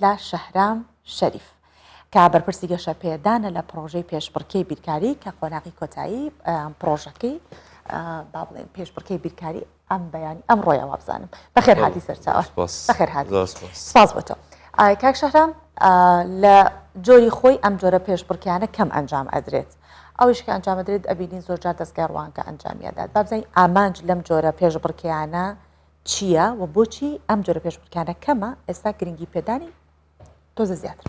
لە شەهرام شەریف کە بەرپرسی گەشەپێدانە لە پڕۆژەی پێشبڕکێی بیرکاری کە قۆناغی کۆتایی پڕۆژەکەی با بڵێن پێشبڕکەی بیرکاری ئەم بەیانی ئەم ڕۆیا وابزانم بەخێر هاتی سەرچاوە بەخێر هاتی سپاس بۆ تۆ کاک شەهرام لە جۆری خۆی ئەم جۆرە پێشبڕکیانە کەم ئەنجام ئەدرێت ئەوش کە ئەنجام درێت ئەبینین زۆرجار دەستگای ڕوانکە ئەنجامیدات بابزین ئامانج لەم جۆرە پێشبڕکیانە چییە و بۆچی ئەم جۆرە پێشبڕکانە کەمە ئێستا گرنگی پێدانی تۆزە زیاتر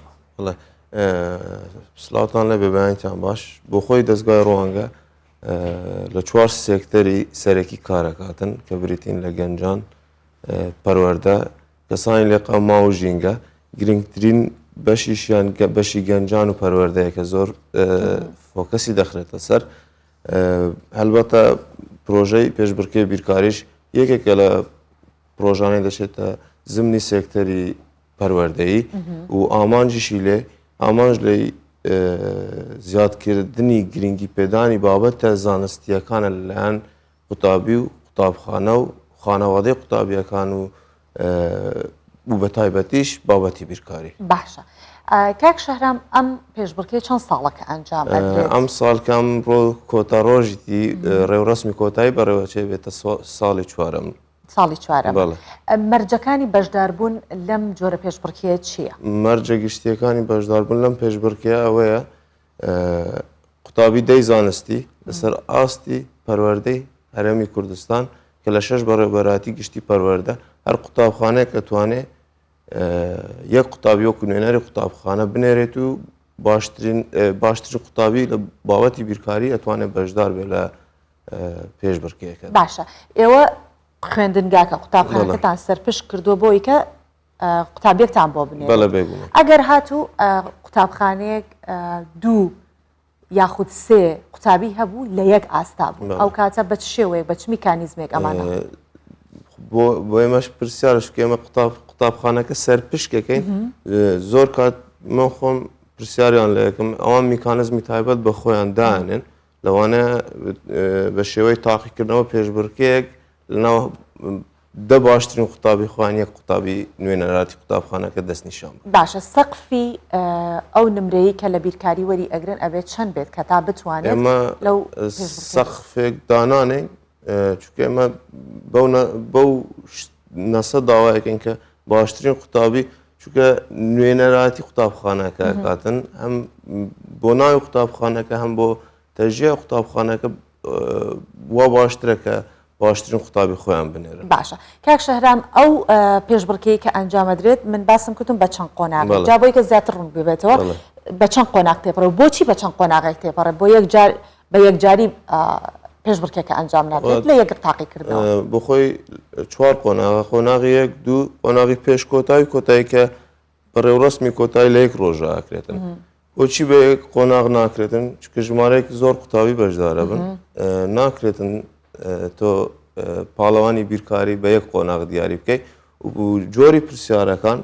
سلاوان لە بێبیانتان باش بۆ خۆی دەستگای ڕوانگە لە چوار سێکتەری سەرەکی کارەکاتن کە بریتین لە گەنجان پەروەەردە کەسانی لێ قەما و ژینگە گرنگترین بەشیشیان بەشی گەنجان و پەروەردەیە کە زۆر فۆکەسی دەخرێتە سەر هەلبەتە پرۆژەی پێشبرکێ بیرکاریش یەکێکە لە پرۆژانەی دەچێتە زمنی سێکتەری پەروەردەیی و ئامانجیشی لێ ئامانج لەی زیادکردنی گرنگی پێدانی بابەتە زانستیەکانە لەلایەن قوتابی و قوتابخانە و خانەوادەی قوتابیەکان و و بە تایبەتیش بابەتی بیرکاری. باشە کاک شەهرام ئەم پێشبڕکێ چەند ساڵە کە ئەنجام ئەدرێت؟ ئەم ساڵ کەم ڕۆ کۆتا ڕۆژی دی ڕێوڕەسمی کۆتایی بەڕێوەچێ بێتە ساڵی چوارەم. ساڵی چوارەم. بەڵێ. مەرجەکانی بەشداربوون لەم جۆرە پێشبڕکێیە چییە؟ مەرجە گشتییەکانی بەشداربوون لەم پێشبڕکێیە ئەوەیە قوتابی دەی زانستی لەسەر ئاستی پەروەردەی هەرێمی کوردستان کە لە شەش بەڕێوبەراتی گشتی پەروەەردە هەر قوتابخانەیە کە توانێ یەک قوتابی وەکو نوێنەری قوتابخانە بنێرێت و باشترین باشتر قوتابی لە باوەتی بیرکاری ئەتوانێت بەشدار بێت لە پێش بڕکێکە باشە ئێوە خوێندنگاکە قوتابخانەکەتان سەرپشت کردووە بۆیکە قوتابیەکتان بۆ بنێرێت ئەگەر هاتوو قوتابخانەیەک دوو یاخود سێ قوتابی هەبوو لە یەک ئاستا بوو ئەو کاتە بە شێوەیە بە چ میکانیزمێک ئەمانە بۆ ئێمەش پرسیارش ئێمە قوتاب قوتابخانەکە سەر پشکەکەین زۆر کات من خۆم پرسیاریان لە یەکەم ئەوان میکانزمی تایبەت بە خۆیان دانێن لەوانەیە بە شێوەی تاقیکردنەوە پێشبڕکێک لەناو دە باشترین قوتابی خوان یەک قوتابی نوێنەراتی قوتابخانەکە دەستنیشان باشە سەقفی ئەو نمرەیە کە لە بیرکاری وەری ئەگرن ئەبێت چەند بێت کە تا بتوانێت لەو سەقفێک دانانێ چونکە ئێمە بەو نەسە داوایەکەن کە باشترین قوتابی چونکە نوێنەراتی قوتابخانەکە کاتن هەم بۆ ناوی قوتابخانەکە هەم بۆ تەژیە قوتابخانەکە وا باشترەکە باشترین قوتابی خۆیان بنێرن باشە کاک شەهرام ئەو پێشبڕکەی کە ئەنجامەدرێت من باسم کردم بە چەند قۆناغ جا بۆی کە زیاتر ڕوون ببێتەوە بە چەند قۆناغ تێپەڕە بۆچی بە چەند قۆناغی تێپەڕە بۆ یەک جار بە یەکجاری پێشبڕکێکە ئەنجام نابێت لە یەکر تاقی کرد بۆ خۆی چوار قۆناغە قۆناغی یەک دوو قۆناغی پێش کۆتاوی کۆتایی کە بەڕێوڕسمی کۆتایی لە یەک ڕۆژاکرێتن بۆچی بە یەک قۆناغ ناکرێتن چکە ژمارەێک زۆر قوتابی بەشدارە بن ناکرێتن تۆ پاڵەوانی بیرکاری بە یەک قۆناغ دیاری بکەیت و جۆری پرسیارەکان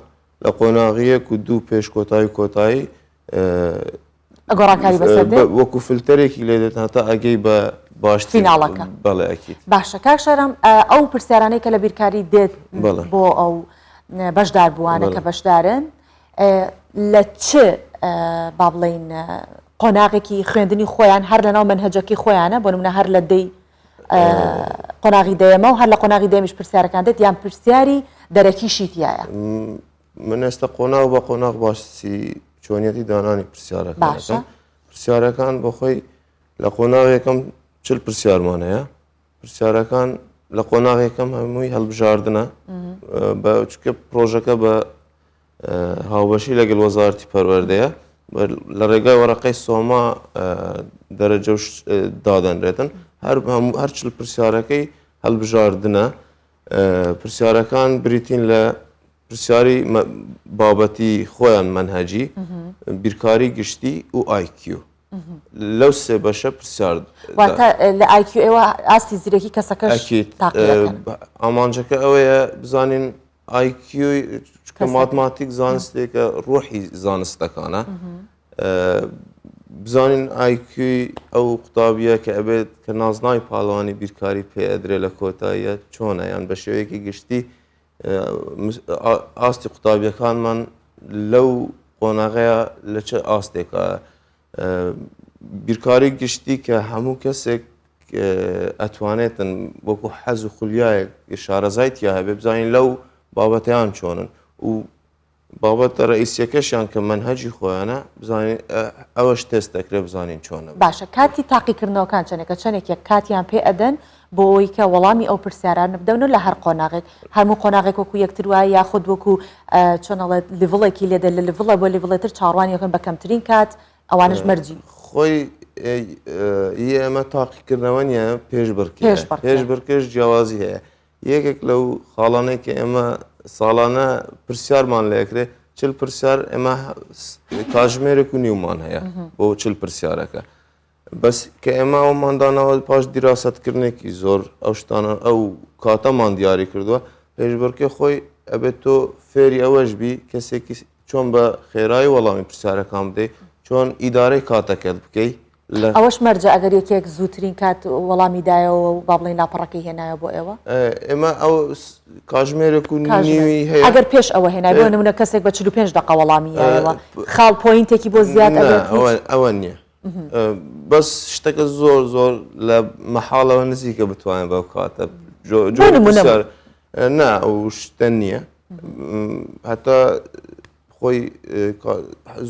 لە قۆناغیەک و دوو پێش کۆتایی کۆتایی گۆڕانکاری بەسەر وەکو فلتەرێکی لێ دێت هەتا ئەگەی بە باشتری ناڵەکە بەڵێ ئەکیت باشە کاک شارم ئەو پرسیارانەی کە لە بیرکاری دێت بۆ ئەو بەشدار بووانە کە بەشدارن لە چ با بڵین قۆناغێکی خوێندنی خۆیان هەر لەناو منهجەکی خۆیانە بۆ منە هەر لە دەی قۆناغی دەیەمە و هەر لە قۆناغی دەمیش پرسیارەکان دێت یان پرسیاری دەرەکیشی تایە من ئێستا قۆناغ بە قۆناغ باسی چۆنیەتی دانانی پرسیارەکە پرسیارەکان بۆخۆی لە قۆناغێکم چل پرسیارمان هەیە پرسیارەکان لە قۆناغێکم هەمووی هەڵبژاردنە بە چکە پرۆژەکە بە هاوبەشی لەگەل وەزارتی پەروەردەیە لە ڕێگای وەرەقەی سۆما دەرەجە دادەنرێتن هەر هەر چل پرسیارەکەی هەڵبژاردنە پرسیارەکان بریتین لە پرسیاری بابەتی خۆیان مەنهجی بیرکاری گشتی و IQ لەو سێ بەشە پرسیار لە IQ ئێوە ئاستی زیرەکی کەسەکە ئامانجەکە ئەوەیە بزانین IQ کە ماتماتیک زانستێکە ڕۆحی زانستەکانە بزانین ئایکیوی ئەو قوتابیە کە ئەبێت کە نازناوی پاڵەوانی بیرکاری پێ ئەدرێ لە کۆتاییە چۆنە یان بە شێوەیەکی گشتی ئاستی قوتابیەکانمان لەو قۆناغەیە لە چه ئاستێکە بیرکاری گشتی کە هەموو کەسێک ئەتوانێتن وەکو حەز و خولیایەک شارەزایت یا هەبێ بزانین لەو بابەتیان چۆنن و بابەتە رەئیسیەکەشیان کە مەنهەجی خۆیانە بزانین ئەوەش تێست دەکرێ بزانین چۆنە. باشە کاتی تاقیکردنەوەکان چەنێکە چەنێکێک کاتیان پێ ئەدەن بۆ ئەوەی کە وەڵامی ئەو پرسیارانە بدەن و لە هەر قۆناغێک هەموو قۆناغێک وەکو یەکتر وایە یاخود وەکو چۆن ئەڵێت لیڤڵێکی لێ دێ لە لیڤڵێ بۆ لیڤڵێ تر چاوەڕوانی ئەکەن بە کەمترین کات ئەوانەش مەرجی خۆی ی ئێمە تاقیکردنەوە نیە پێشبڕکێ پێشبڕکێش جیاوازی هەیە یەکێک لەو خاڵانەی کە ئێمە ساڵانە پرسیارمان لە یەکرێ چل پرسیار ئێمە کاژمێرێک و نیومان هەیە بۆ چل پرسیارەکە بەس کە ئێمە ئەوماندانەوە پاش دیراستکردنێکی زۆر ئەو شتانە ئەو کاتەمان دیاری کردووە پێشبڕکە خۆی ئەبێت تۆ فێری ئەوەش بی کەسێکی چۆن بە خێرای وەڵامی پرسیارەکان بدەیت چۆن ئیدارەی کاتەکەت بکەیت لە ئەوەش مەرجە ئەگەر یەکێک زووترین کات وەڵامی دایەوە و با بڵین لاپەڕەکەی هێنایە بۆ ئێوە ئێمە ئەو کاژمێرێک و نیوی هەیە ئەگەر پێش ئەوە هێنای بۆ نمونە کەسێک بە 45 دقە وەڵامیەوە خاڵ پوینتێکی بۆ زیاد ئەوە نییە بەس شتەکە زۆر زۆر لە مەحاڵەوە نزیکە بتوانێت بەو کاتە جۆ نا ئەو شتە نییە هەتا خۆی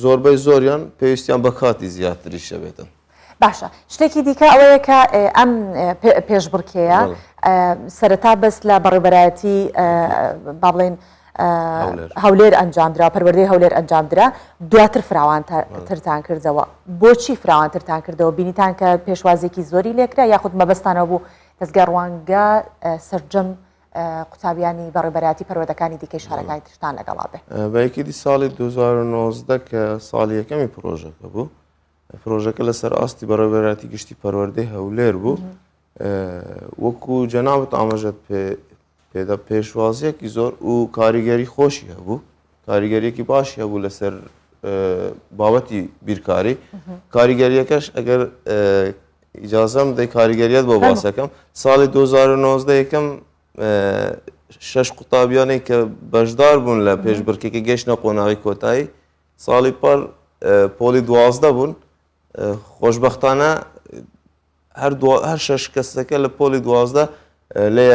زۆربەی زۆریان پێویستیان بە کاتی زیاتری شەبێتن باشە شتێکی دیکە ئەوەیە کە ئەم پێشبڕکێە سەرەتا بەس لە بەڕێبەرایەتی با بڵێن هەولێر ئەنجامدرا پەروەردەی هەولێر ئەنجامدرا دواتر فراوانترتان کردەوە بۆچی فراوانترتان کردەوە بینیتان کە پێشوازێکی زۆری لێکرا یاخود مەبەستانەوە بوو دەزگا ڕوانگە سەرجەم قوتابیانی بە ڕێبەراتی پەروەدەکانی دیکەی شارەکانی ترشتان لەگەڵا بێ بەیکیدی ساڵی 2009 کە ساڵی یەکەمی پرۆژەکە بوو پرۆژەکە لەسەر ئاستی بەڕێبەراتی گشتی پەروەردەی هەولێر بوو وەکو جەناوت ئاماژەت پێدا پێشوازیەکی زۆر و کاریگەری خۆشی هەبوو کاریگەریەکی باشی هەبوو لەسەر بابەتی بیرکاری کاریگەریەکەش ئەگەر ئیجازەم دەی کاریگەریت بۆ باسەکەم ساڵی 2009 یەکەم شش قوتابیانی کە بەشدار بوون لە پێشبڕکێکی گەشتە قۆناغی کۆتایی ساڵی پار پۆلی دوازدە بوون خۆشببختانە هەر دوا هەر شە شکەستەکە لە پۆلی دوازدە لە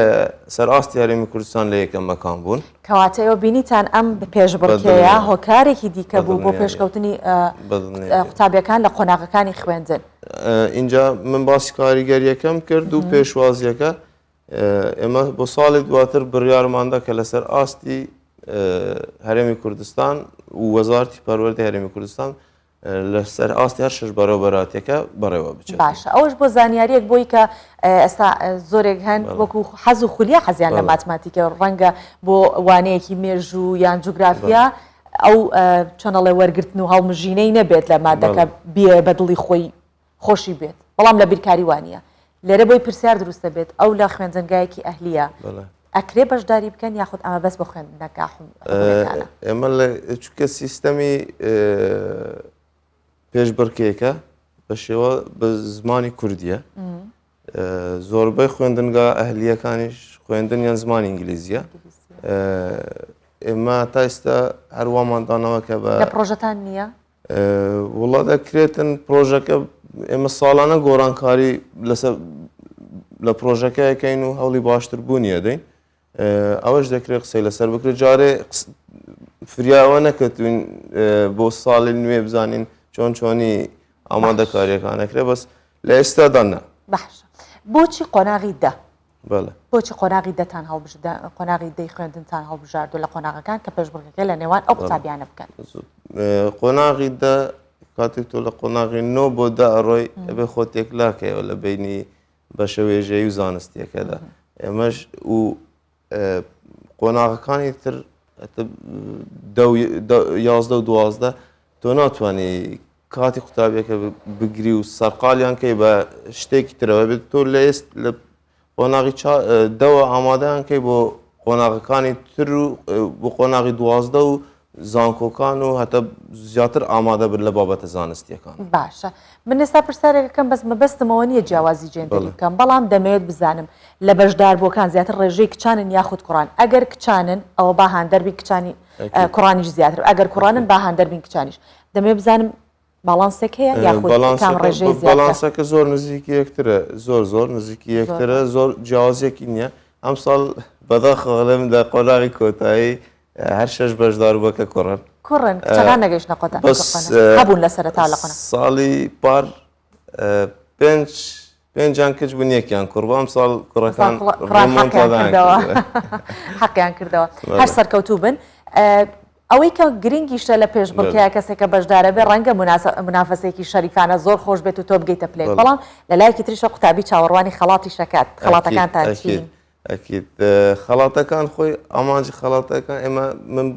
سەر ئاستی هەرێمی کوردستان لە یەکە مەکان بوون کەواتەوە بینیتان ئەم پێش بڕکەیە هۆکارێکی دیکە بوو بۆ پێشکەوتنی قوتابیەکان لە قۆناغەکانی خوێندن اینجا من باسی کاریگەریەکەم کرد و پێشوازیەکە ئێمە بۆ ساڵی دواتر بڕیارماندا کە لەسەر ئاستی هەرێمی کوردستان و وەزارتی پەروەردە هەرێمی کوردستان لەسەر ئاستی هەر شەش بەڕێوەبەرایەتیەکە بەڕێوە بچێت باشە ئەوەش بۆ زانیاریەک بۆی کە ئێستا زۆرێک هەن وەکو حەز و خولیا حەزیان لە ماتماتیکە ڕەنگە بۆ وانەیەکی مێژوو یان جوگرافیا ئەو چەنەڵێ وەرگتن و هەڵمژینەی نەبێت لە مادەکە بێ بەدڵی خۆی خۆشی بێت بەڵام لە بیرکاری وانە لێرە بۆی پرسیار دروست دەبێت ئەو لە خوێندنگایەکی ئەهلیە ئەکرێ بەشداری بکەن یاخود ئەمە بەس بە خوێندنەکە ئێمە چکە سیستەمی پێشبڕکێکە بە شێوە بە زمانی کوردیە زۆربەی خوێندنگا ئەهلیەکانیش خوێندن یان زمانی ئینگلیزیە ئێمە تا ئێستا هەرواماندانەوە کە بە پرۆژەتان نییە وڵا دەکرێتن پرۆژەکە ئێمە ساڵانە گۆڕانکاری لەسەر لە پرۆژەکەکەین و هەوڵی باشتر بوونیە دەین ئەوەش دەکرێت قسەی لەسەر بکرێت جارێ فریاوە نەکەتوین بۆ ساڵی نوێ بزانین چۆن چۆنی ئامادەکاریەکانەکرێ بەس لە ئێستادانە بەش بۆچی قۆناغی دە بەڵێ. بۆچی قۆناغی دەتان هەڵبژ دە قۆناغی دەی خوێندنتان هەڵبژاردووە لە قۆناغەکان کە پێشبڕکێکە لە نێوان ئەو قوتابیانە بکەن قۆناغی دە کاتێک تۆ لە قۆناغی نۆ بۆ دا ئەڕۆی ئەبێ خۆ تێکلاکەیەوە لە بینی بەشە وێژەی و زانستیەکەدا ئێمەش و قۆناغەکانی تر یازدە و دوازدە تۆ ناتوانانی کاتی قوتابیەکە بگری و سەرقالیان کەی بە شتێکی ترەوە بێت تۆ لە ئێست لە قۆناغی دەوە ئامادەیان کەی بۆ قۆناغەکانی تر و بۆ قۆناغی دوازدە و زانکۆکان و هەتا زیاتر ئامادە بن لە بابەتە زانستیەکان باشە من ئێستا پرسیارێکەکەم بەس مەبەستمەوە نیە جیاوازی جێندەری بکەم بەڵام دەمەوێت بزانم لە بەشدار بۆکان زیاتر ڕێژەی کچانن یاخود کوڕان ئەگەر کچانن ئەوە با هاندەربی کچانی کوڕانیش زیاتر ئەگەر کوڕانن با هاندەربین کچانیش دەمێ بزانم باڵانسێک هەیە یاخۆڵانسەکە زۆر نزیکی یەکترە زۆر زۆر نزیکی یەکترە زۆر جیاوازێکی نییە ئەمساڵ بەداخڵم لە قۆناغی کۆتایی هەر شش بەشدار بە کە کوڕن کوڕن نەگەشتە قۆتابوون لە سەرتا لە ساڵی پار پێنج پێنجان کچ بوون یەکیان کوڕ بۆ ئەمساڵ کوڕەکان حەقیان کردەوە هەر سەرکەوتوو بن ئەوەی کە گرنگیشتە لە پێش بڵکەیە کەسێکە بەشدارە بێ ڕەنگە منافەسێکی شەریفانە زۆر خۆش بێت و تۆ بگەیتە پلێ بەڵام لە لایەکی تریشە قوتابی چاوەڕوانی خەڵاتی شکات خڵاتەکان تاچین ئەکید خەڵاتەکان خۆی ئامانجی خەڵاتەکان ئێمە من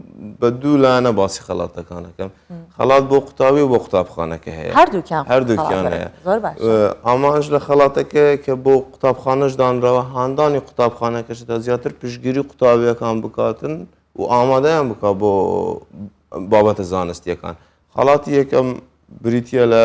بە دوو لاەنە باسی خەڵاتەکانەکەم خەڵات بۆ قوتابی و بۆ قوتابخانەکە هەیە هەردووکیان هەردووکیان هەیە ئامانج لە خەڵاتەکە کە بۆ قوتابخانەش دانرەوە هاندانی قوتابخانەکەش تا زیاتر پشگیری قوتابیەکان بکاتن و ئامادەیان بکات بۆ بابەتە زانستیەکان خەڵاتی یەکەم بریتە لە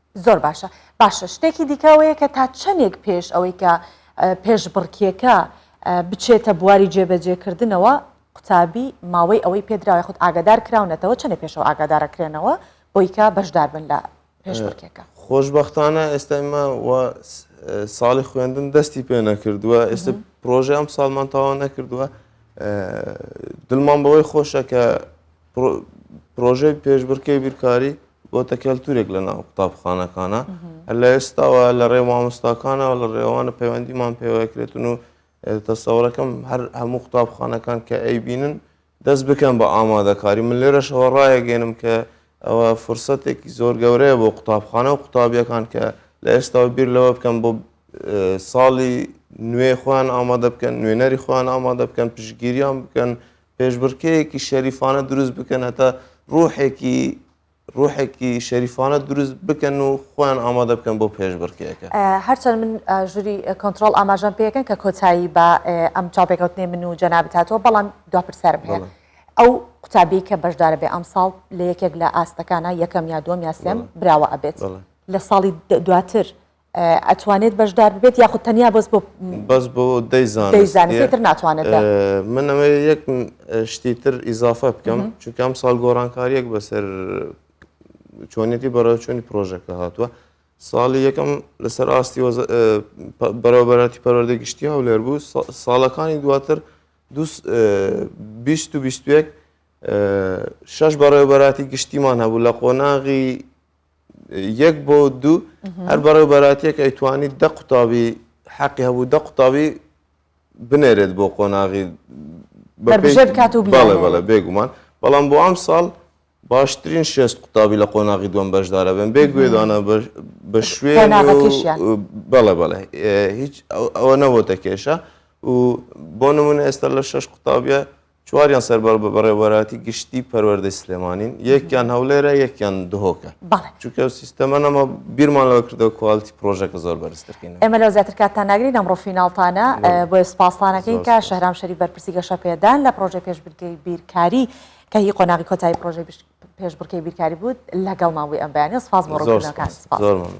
زۆر باشە باشە شتێکی دیکە ئەوەیە کە تا چەندێک پێش ئەوەی کە پێشبڕکێکە بچێتە بواری جێبەجێکردنەوە قوتابی ماوەی ئەوەی پێدراوی خود ئاگادار کراونەتەوە چەندە پێشەوە ئاگادارەکرێنەوە بۆیکە بەشدار بن لە پێشبڕکێکە خۆشببختانە ئێستا ئمە ساڵی خوێندن دەستی پێ نەکردووە ئێستا پرۆژه ئەم ساڵمان تاوا نەکردووە دڵمان بەوەی خۆشە کە پرۆژەی پێشبرکێ بیرکاری بۆتە کەلتورێک لە ناو قوتابخانەکانە لە ئێستاوە لە ڕێ مامۆستاکانەوە لە ڕێوانە پەیوەندیمان پێوەکرێتن و تەسەورەکەم هەر هەموو قوتابخانەکان کە ئەی بینن دەست بکەن بە ئامادەکاری من لێرەشەوە ڕایەگەێنم کە ئەوە فرسەتێکی زۆر گەورەیە بۆ قوتابخانە و قوتابیەکان کە لە ئێستاوە بیر لەوە بکەم بۆ ساڵی نوێ خۆیان ئامادە بکەن نوێنەری خۆیان ئامادە بکەن پشگیریان بکەن پێشبڕکێیەکی شەریفانە دروست بکەن هەتا ڕوحێکی ڕوحێکی شەریفانە دروست بکەن و خۆیان ئامادە بکەن بۆ پێشبڕکێەکە هەرچەند من ژووری کۆنتترۆل ئاماژان پێەکەن کە کۆتایی بە ئەم چاپێکوتنی من و جەنابتاتەوە بەڵام دو پرسیارم هەیە ئەو قوتابی کە بەشدارە بێ ئەم ساڵ لە یەکێک لە ئاستەکانە یەکەم یا دوم یاسێم براوە ئەبێت لە ساڵی دواتر ئەتوانێت بەشدار ببێت یاخود تەنیا بەس بۆ بەس بۆ دەیزانتر ناتوانێت من ئەوێ یەک شتی تر ئیزافە بکەم چونکەم ساڵ گۆڕانکاریەک بەسەر چۆنێتی بەڕێوچوونی پرۆژەکە هاتووە ساڵی یەکەم لەسەر ئاستی بەرەوبەراتی پەروەردە گشتی هەولێر بوو ساڵەکانی دواتر شش بەڕێوبەراتی گشتیمان هەبوو لە قۆناغی یەک بۆ دوو هەر بەڕێ بەراتێک ئەیتوانی دە قوتابی حەقی هەبوو دە قوتابی بنێرێت بۆ قۆناغی بکات و بڵێ بێگومان بەڵام بۆ ئەم ساڵ باشترین شێست قوتابی لە قۆناغی دوم بەشدارە بن بێ گوێدانە بە شوێ بەڵێ بەڵێ هیچ ئەوە نەبووتە کێشە و بۆ نمونە ئێستا لە شش قوتابە چواریان سەربار بە بەڕێوەبەراتی گشتی پەروەردەی سلێمانین یەکیان هەولێرە یەکیان دهۆکە بەڵێ چونکە ئەو سیستەمە نەما بیرمان لەوە کردەوە کوالتی پرۆژەکە زۆر بەرزترکەین ئێمە لەو زیاتر کاتتان ناگرین ئەمڕۆ فیناڵتانە بۆیە سپاسانەکەین کە شەهرام شەریف بەرپرسی گەشە پێدان لە پرۆژەی پێشبرکەی بیرکاری کە هی قۆناغی کۆتایی پرۆژەی پێشبڕکەی بیرکاری بوو لەگەڵمان بووی ئەم بەیانە سپاس بۆ ڕۆژەکان زۆر ممنون.